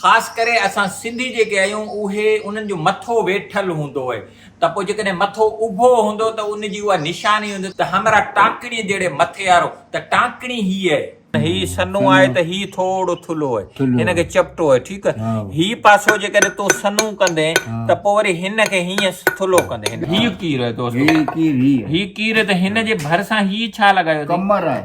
خاص ڪري اسان سنڌي جيڪي آهيون اهي انهن جو مٿو ويٺل هوندو هئي ته پوء جيڪڏهن مٿو اڀو هوندو ته ان جي اها نشاني هوندي ته همراهه ٽانڪڻي جهڙي مٿي وارو ته ٽانڪڻي هي اهي. هي سنهون آهي ته هي ٿورڙو ٿلهو اهي هن کي چپٽو اهي ٺيڪ اهي هي پاسو جيڪڏهن تون سنهون ڪندين ته پوء وري هن کي هيئن ٿلهو ڪندين هن کي. هي ڪير اهي دوستو. هي ڪير هي اهي. هي ڪير اهي ته هن جي ڀرسان هي ڇا لڳايو اٿئي. ڪمر آهي.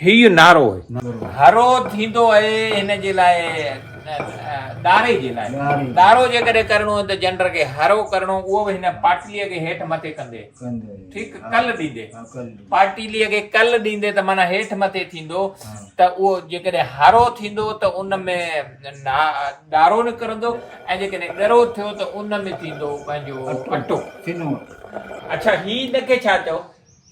هي ئي نعرو آهي. هرو ٿيندو اهي هن جي لاء ڏاري جي لاء ڏارو جيڪڏهن ڪرڻو هو ته جنڊر کي هرو ڪرڻو اهو به هن پاٽلي کي هيٺ مٿي ڪندي ٺيڪ ڪل ڏيندي پاٽلي کي ڪل ڏيندي ته معنيٰ هيٺ مٿي ٿيندو ته اهو جيڪڏهن هرو ٿيندو ته ان ۾ ڏارو نڪرندو ۽ جيڪڏهن ڳرو ٿيو ته ان ۾ ٿيندو پنهنجو اٽو اچھا هي ان کي ڇا چئو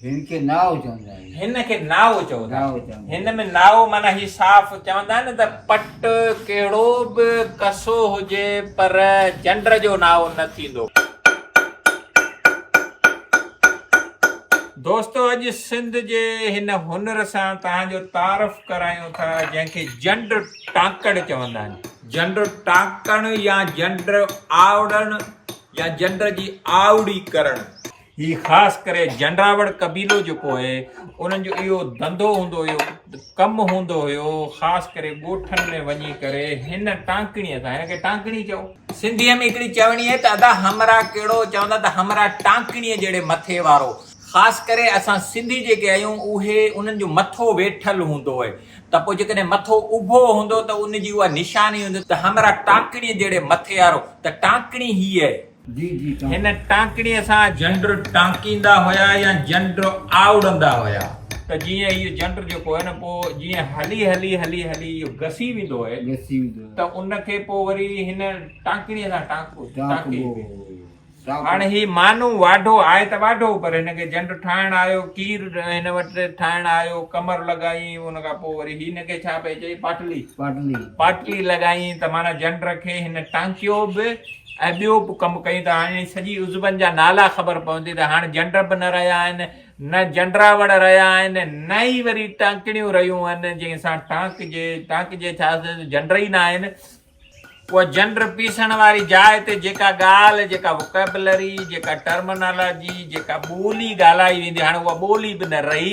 هن کي نائو چوندا آهن. هن کي نائو چوندا آهن. هن ۾ نائو معنيٰ هي صاف چوندا آهن ته پٽ ڪهڙو به ڪسو هجي پر چنڊ جو نائو نه ٿيندو. دوستو اڄ سنڌ جي هن هنر سان توهان جو تعارف ڪرايون ٿا جنهن کي جنڊ ٽانڪڙ چوندا آهن. جنڊ ٽانڪڻ يا جنڊ آئڙڻ يا جنڊ جي آئڙي ڪرڻ. هي خاص ڪري جنڊراوڙ قبيلو جيڪو هي انهن جو اهو ڌنڌو هوندو هيو ڪم هوندو هيو خاص ڪري ڳوٺن ۾ وڃي ڪري هن ٽانڪڻي سان هن کي ٽانڪڻي چئو سنڌي ۾ هڪڙي چوڻي هي ته ادا همرا ڪهڙو چوندا ته همرا ٽانڪڻي جهڙي مٿي وارو خاص ڪري اسان سنڌي جيڪي آهيون اهي انهن جو مٿو ويٺل هوندو هي ته پوء جيڪڏهن مٿو اڀو هوندو ته ان جي اها نشاني هوندي ته همرا ٽانڪڻي جهڙي مٿي وارو ته ٽانڪڻي هي هي هن ٽانڪڻيء سان جنڊ ٽانڪيندا هيا يا جنڊ آئوڙندا هيا ته جيئن اهو جنڊ جيڪو آهي نه پوء جيئن هلي هلي هلي هلي اهو گسي ويندو آهي ته ان کي پوء وري هن ٽانڪڻيء سان ٽانڪبو ٽانڪيبو هاڻي هي مانو واڍو آهي ته واڍو پر هن کي جنڊ ٺاهڻ آيو کير هن وٽ ٺاهڻ آيو ڪمر لڳائين ان کان پوء وري هن کي ڇا پئي چئي پاٽلي پاٽلي لڳائين ته معنيٰ جنڊ کي هن ٽانڪيو به ۽ ٻيو به ڪم ڪيون ته هاڻي انهن سڄي عضون جا نالا خبر پوندي ته هاڻ جنڊ به نه رهيا آهن، نه جنڊراوڙ رهيا آهن، نه ئي وري ٽانڪڻيون رهيون آهن، جنهن سان ٽانڪجي، ٽانڪجي ڇا سندس جنڊ ئي نه آهن. اها جنڊ پيسڻ واري جاء تي جيڪا ڳالهه، جيڪا وڪيبلري، جيڪا ٽرمنالاجي، جيڪا ٻولي ڳالهائي ويندي هاڻ اها ٻولي به نه رهي،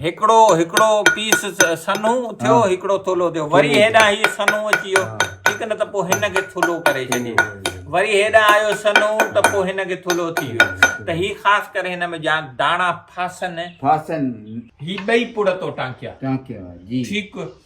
هڪڙو هڪڙو پيس سنهو ٿيو، هڪڙو ٿلهو ٿيو، وري هيڏانهن هيء سنهو اچي ويو، ٺيڪ نه ته پوء هن کي ٿلهو ڪري ڇڏي، وري هيڏانهن آيو سنهو ته پوء هن کي ٿلهو ٿي ويو، ته هي خاص ڪري هن ۾ جا داڻا ڦاسن. هي ٻئي پڙ تو ٽانڪيا. ٺيڪ،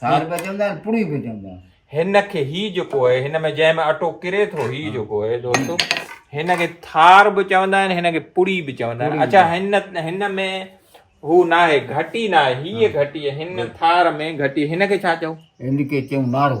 سار به چوندا آهن پڙي به چوندا آهن هن کي هي جيڪو آهي هن ۾ جنهن ۾ اٽو ڪري ٿو هي جيڪو آهي دوستو هن کي ٿار به چوندا آهن هن کي پڙي به چوندا آهن اچا هن هن ۾ هو نه آهي گهٽي نه آهي هيء گهٽي هن ٿار ۾ گهٽي هن کي ڇا چئو هن کي چئون ناڙو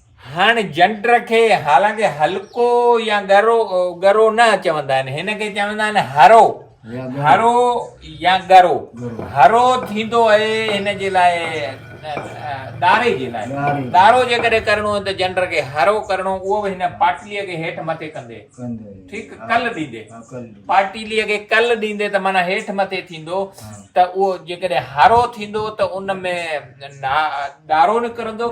هن جنڊر کي حالانڪ هلڪو يا ڳرو ڳرو نه چوندا آهن هن کي چوندا آهن هرو هرو يا ڳرو هرو ٿيندو آهي هن جي لاء ڏاري جي لاء ڏارو جيڪڏهن ڪرڻو آهي ته جنڊر کي هرو ڪرڻو اهو به هن پاٽليء کي هيٺ مٿي ڪندي ٺيڪ کل ڏيندي پاٽليء کي کل ڏيندي ته معنی هيٺ مٿي ٿيندو ته اهو جيڪڏهن هرو ٿيندو ته ان ۾ ڏارو نڪرندو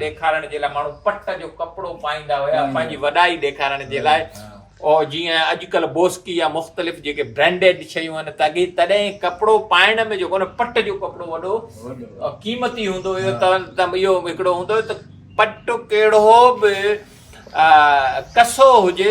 ڏيکارڻ جي لاء ماڻهو پٽ جو ڪپڙو پائيندا هيا پنهنجي وڏائي ڏيکارڻ جي لاء او جي ۽ اڄڪلهه بوسڪي يا مختلف جيڪي برينڊيڊ شيون آهن ته اڳي تڏهن ڪپڙو پائڻ ۾ جيڪو نه پٽ جو ڪپڙو وڏو قيمتي هوندو هيو ته اهو هڪڙو هوندو هيو ته پٽ ڪهڙو به ڪسو هجي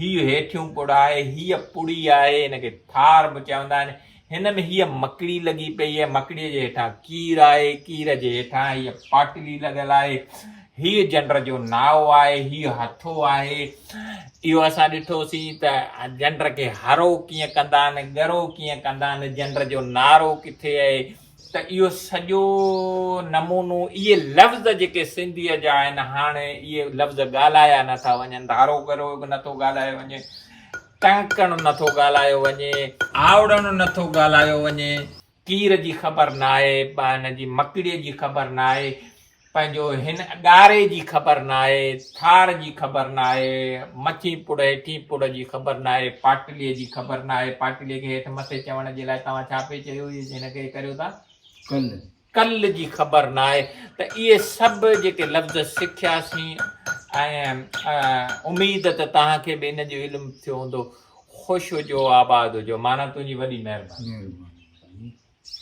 هي هيٺيون پڙ آهي، هيء پڙي آهي، هن کي ٿار به چوندا آهن. هن ۾ هيء مڪڙي لڳي پئي آهي، مڪڙيء جي هيٺان ڪير آهي، ڪير جي هيٺان هيء پاٽلي لڳل آهي، هيء جنڊ جو نائو آهي، هيء هٿو آهي. اهو اسان ڏٺوسين ته جنڊ کي هرو ڪيئن ڪندا آهن، ڳرو ڪيئن ڪندا آهن، جنڊ جو نارو ڪٿي آهي، ته اهو سڄو نمونو اهي لفظ جيڪي سنڌيء جا آهن هاڻ اهي لفظ ڳالهايا نه ٿا وڃن ڌارو ڪرو به نه ٿو ڳالهايو وڃي ڪنڪڻ نه ٿو ڳالهايو وڃي آوڙڻ نه ٿو ڳالهايو وڃي ڪير جي خبر نه آهي هن جي مڪڙيء جي خبر نه آهي پنهنجو هن ڳاري جي خبر ناهي، ٿار جي خبر ناهي، مٿين پڙ هيٺين پڙ جي خبر ناهي، پاٽليء جي خبر ناهي، پاٽليء کي هيٺ مٿي چوڻ جي لاء توهان ڇا پئي چيو هيس هن کي ڪريو ٿا؟ ڪل. ڪل جي خبر ناهي ته اهي سڀ جيڪي لفظ سکياسين ۽ اميد ته توهان کي به ان جو علم ٿيو هوندو. خوش هجو آباد هجو مانا تنهنجي وڏي مهرباني. مهرباني.